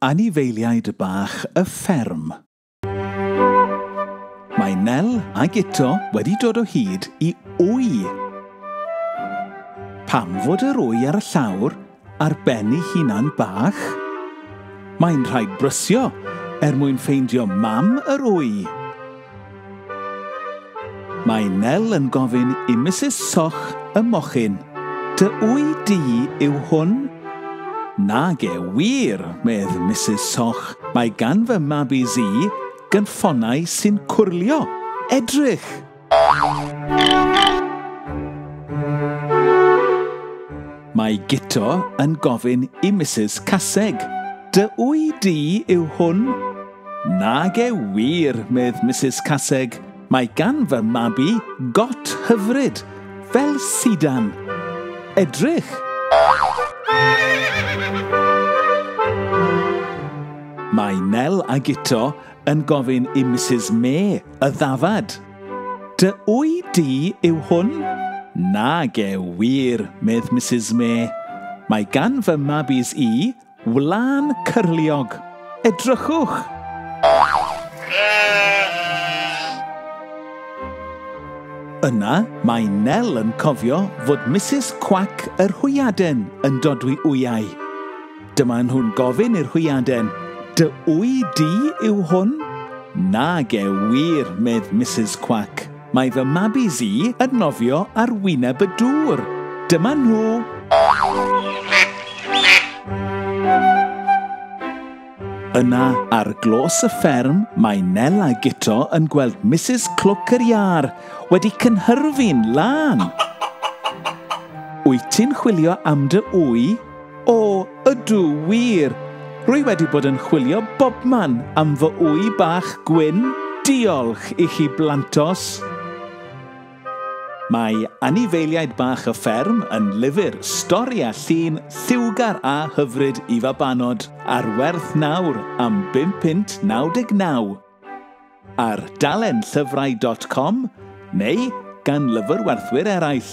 Anifeiliaid bach y fferm. Mae Nel a Guto wedi dod o hyd i wy. Pam fod yr wy ar y llawr ar ben ei hunan bach? Mae'n rhaid brysio er mwyn ffeindio mam yr wy. Mae Nel yn gofyn i Misus Soch y mochyn, Dy wy di yw hwn? Nage wir, medd Misus Soch, mae gan fy mab i Zee gynffonnau sy'n cwrlio. Edrych! Mae Guto yn gofyn i Misus Caseg, Dy wy di yw hwn? Nage wir, medd Misus Caseg, mae gan fy mab i got hyfryd, fel sidan. Edrych! Mae Nel a Guto yn gofyn i Misus Mê y ddafad. Dy wy di yw hwn? Nage wir, medd Misus Mê. Mae gan fy mabis i Wlân cyrliog. Edrychwch! Yna, mae Nel yn cofio fod Misus Cwac yr Hwyaden yn dodwy wyau. Dyma nhw'n gofyn i'r hwyaden, Dy wy di yw hwn? Nage wir, medd Misus Cwac. Mae fy mabis i yn nofio ar wyneb y dŵr. Dyma nhw! Yna, ar glos y fferm, mae Nel a Guto yn gweld Misus Clwc yr Iâr wedi cynhyrfu'n lân. Wyt ti'n chwilio am dy ŵy? O, ydw, wir! Rwy wedi bod yn chwilio bobman am fy ŵy bach gwyn, diolch i chi blantos! Mae anifeiliaid bach y fferm yn lyfr stori a llun lliwgar a hyfryd i fabanod, ar werth nawr am bum punt naw deg naw. Ar dalenllyfrau.com neu gan lyfrwerthwyr eraill.